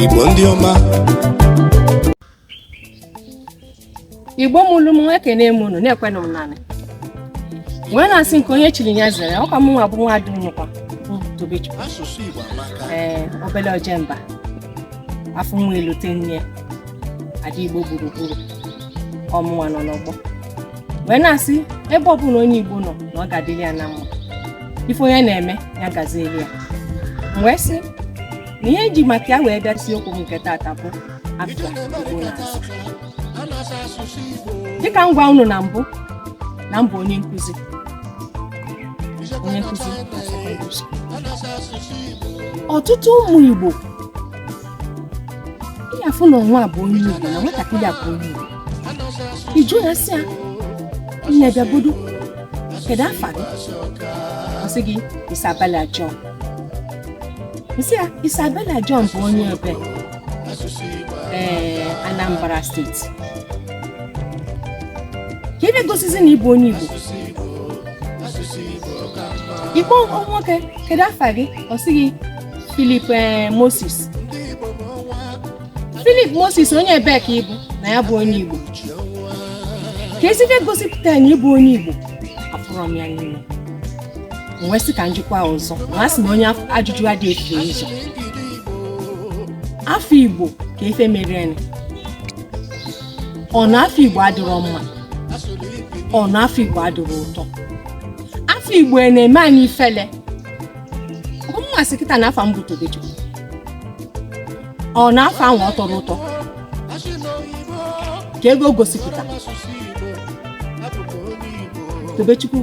Igbo ndị ọma Igbo mụlụ m ekene m unu na-ekwenụ m nanị wee na-asị nke onye chiri ya zere ọkwa mụnwa bụ nwa ada nnukwu Tobechukwu ee obele ojemba afụ nwa elote nne ada Igbo gburugburu ọ mụnwa nọ n'ọgbọ wee na-asị ebe ọbụla onye igbo nọ na ọ ga-adịrị ya na mma ife onye na-eme ya gazieli ya m wee sị na ihe eji maka ya wee bịa isi okwu m nke taata bụ afa igbo na-aza dịka m gwa unu na mbụ na m bụ onye nkụzi onye nkụzi na sekọndịrị skuul. ọtụtụ ụmụ igbo ị ya-afụ na nwa a bụ onye Igbo na nwatakịrị a bụ onye Igbo ị jụọ ya sị ya nne bịagodo kedu afa gị ọ sị gị Isabella John ị sị ya Isabella John bụ onye ebee Anambra steeti kee ebe gosizi na ị bụ onye Igbo ị kpọọ nwoke kedu afa gị ọ sị gị Philip eh, Moses Philip Moses onye ebee ka ị bụ na ya bụ onye Igbo keezi ebe gosipụta na ị bụ onye Igbo afụrọ m ya n'ime m wee sị ka m jụkwa ọzọ na a sị na onye ajụjụ adị efu ụzọ afa Igbo kee ife merenụ ọ na afa Igbo adịrọ mma ọ na afa Igbo adịrọ ụtọ afa Igbo na-eme anyị ifele m asị kịta na afa m bụ Tobechukwu ọ na afa ahụ ọ tọrọ ụtọ kee ife o gosipụta Tobechukwu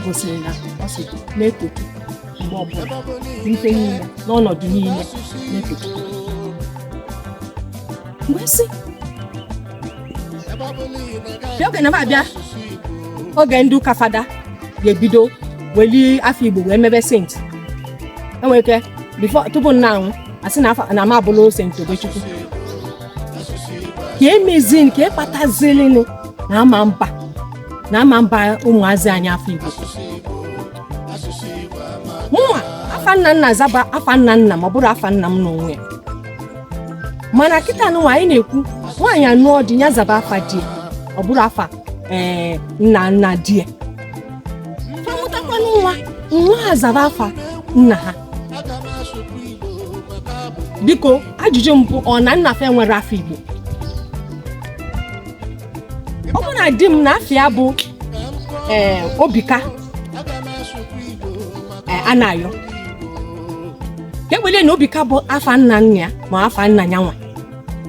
gosiri na ọ sị na-eto Chukwu mgbe ọbụla n'ife niile n'ọnọdụ niile na-eto Chukwu mgbe sị oge na-abịa oge ndị ụka fada ga-ebido weli afa igbo wee mebe sent e nwere ike before tupu m na-anwụ a sị na afa- na m abụla sent Tobechukwu kee mezinụ kee kpatazilinụ na ama mba na ama mba ụmụazị anyị afa igbo mụnwa afa nna m na-aza bụ afa nna nna m ọ bụrọ afa nna m n'onwe ya mana kịta nụwa anyị na-ekwu nwaanyị anụọ di ya zaba afa di ya ọ bụrụ afa ee nna nna di ya fa mụtakwanụ nwa nwa ha zaba afa nna ha biko ajụjụ mbụ ọ na nna fa enwerọ afa igbo ọ bụrụ na di m na afa ya bụ ee obika anayọ ka ewele na obika bụ afa nna nna ya ma afa nna ya nwa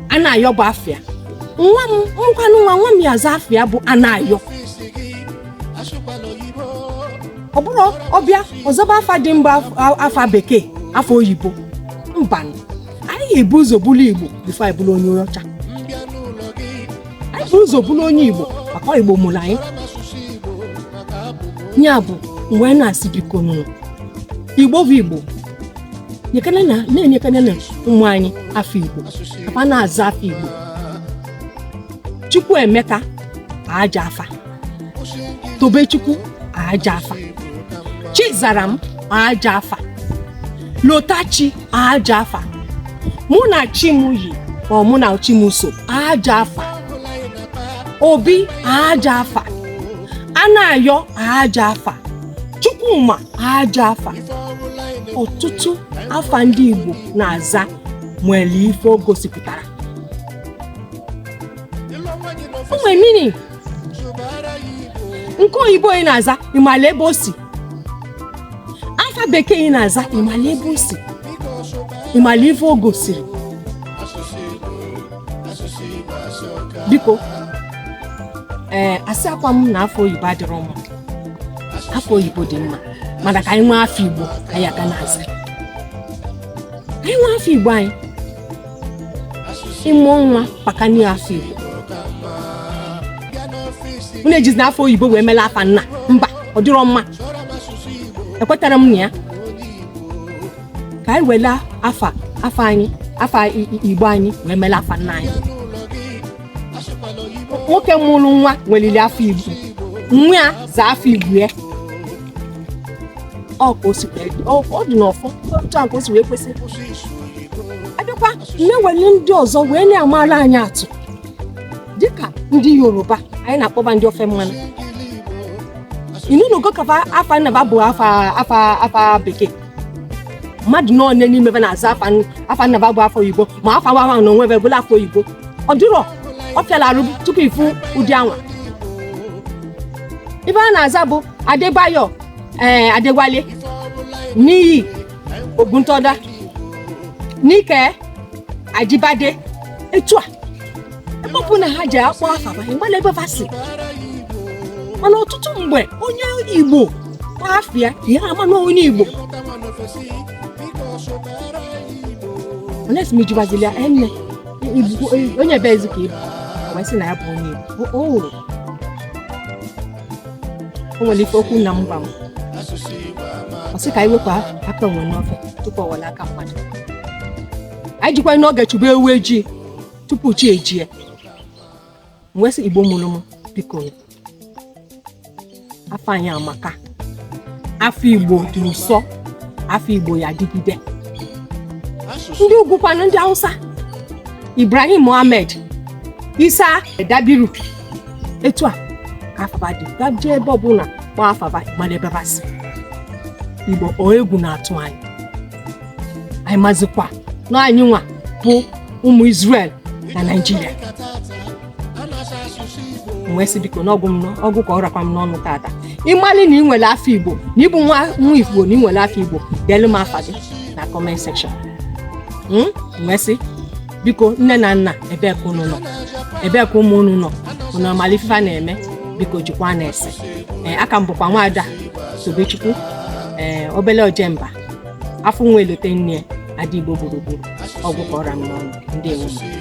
anayọ bụ afa ya m mụkwanụ nwa nwa m ya za afa ya bụ anayọ ọ bụrọ ọ bịa ọ zaba afa ndị mba afa bekee afa oyibo mba anyị ga-ebu ụzọ bụrụ igbo before anyị bụrụ onye ọcha anyị bu ụzọ bụrụ onye igbo maka igbo mụrụ anyị ya bụ m wee na-asị biko nụ igbo bụ igbo nyekana na na-enyekana na ụmụ anyị afa igbo ka fa na-aza afa igbo chukwuemeka ajọ afa tobechukwu ajọ afa chizaram ajọ afa lotachi ajọ afa mụnachimyi or mụnachimso ajọ afa obi ajọ afa anayọ ajọ afa chukwuma ajọ afa ọtụtụ afa ndị igbo na-aza nwere ife o gosipụtara o nwere meaning nke oyibo ị na-aza ị mala ebe o si afa bekee ị na-aza ị mala ebe o si ị mala ife o gosiri biko ee eh, asịrọkwa m na afa oyibo adịrọ mma afa oyibo dị mma mana ka anyị nwee afa igbo anyị a ga na-aza anyị nwee afa igbo anyị ị mụọ nwa bakwanụ ya afa Igbo unu ejizina afa oyibo wee mela afa nna mba ọ dịrọ mma ekwetarọ m na ya ka anyị wele afa afa anyị afa igbo anyị wee mela afa nna anyị nwoke mụrụ nwa nwelili afa igbo nwa ya za afa igbo ya ọ ka o si wee dị. Ọ- ọ dị n'ọfọ otu a ka o si wee kwesị a bịakwa na-ewele ndị ọzọ wee na-amara anyị atụ dịka ndị yoruba anyị na-akpọba ndị ofe mmanụ ị nụnụgo ka afa afa nna ba bụ afa afa afa bekee mmadụ na onye n'ime be na-aza afa n- afa nna ba bụ afa oyibo ma afa wa ahụ na onwe be bụla afa oyibo ọ dịrọ ọ fịala arụ tupu ị fụ ụdị anwa ife a na-aza bụ adebayo ee adewale niyi oguntoda nike ajibade etu a ebe ọbụna ha jee akpọ afa ba ị mala ebe fa si mana ọtụtụ mgbe onye igbo kpọọ afa ya ya ama na onye igbo unless m jụbazili ya e nne Igbo- eh, onye ebeezi ka ị bụ wee sị na ya bụ onye igbo O- o nwere o nwere ife okwu nna m gwa m ọ sị ka anyị wepụ aka enwe n'ofe tupu ọ ghọrọ aka mmadụ anyị jikwa n'oge chụba ewu ejii tupu chi ejie m wee sị igbo mụrụ m biko afa anyị amaka afa igbo dị ụsọ afa igbo ya dịgide ndị ugwu kwanụ ndị hausa ibrahim mohammed isa dabiru etu a ka afa ba dị ba jee ebe ọbụla kpọọ afa ba ị mara ebe ba si igbo o egwu na-atụ anyị anyị mazikwa na anyị nwa bụ ụmụ Israel na Naịjirịa m wee sị biko na ọ gwụ m nọ- ọ gwụ ka ọ rakwa m n'ọnụ tata ị malị na ị nwere afa Igbo na ị bụ nwa nwa Igbo na ị nwere afa Igbo deelu m afa gị na comment section m wee sị biko nne na nna ebee ka unu nọ ebee ka ụmụ unu nọ unu amala ife a na-eme biko jikwa na-ese ee aka m bụkwa nwaada Tobechukwu ee obele ojemba afụ nwa elote nne ya ada igbo gburugburu ọ gwụ ka ọ ra m n'ọnụ ndị nwe m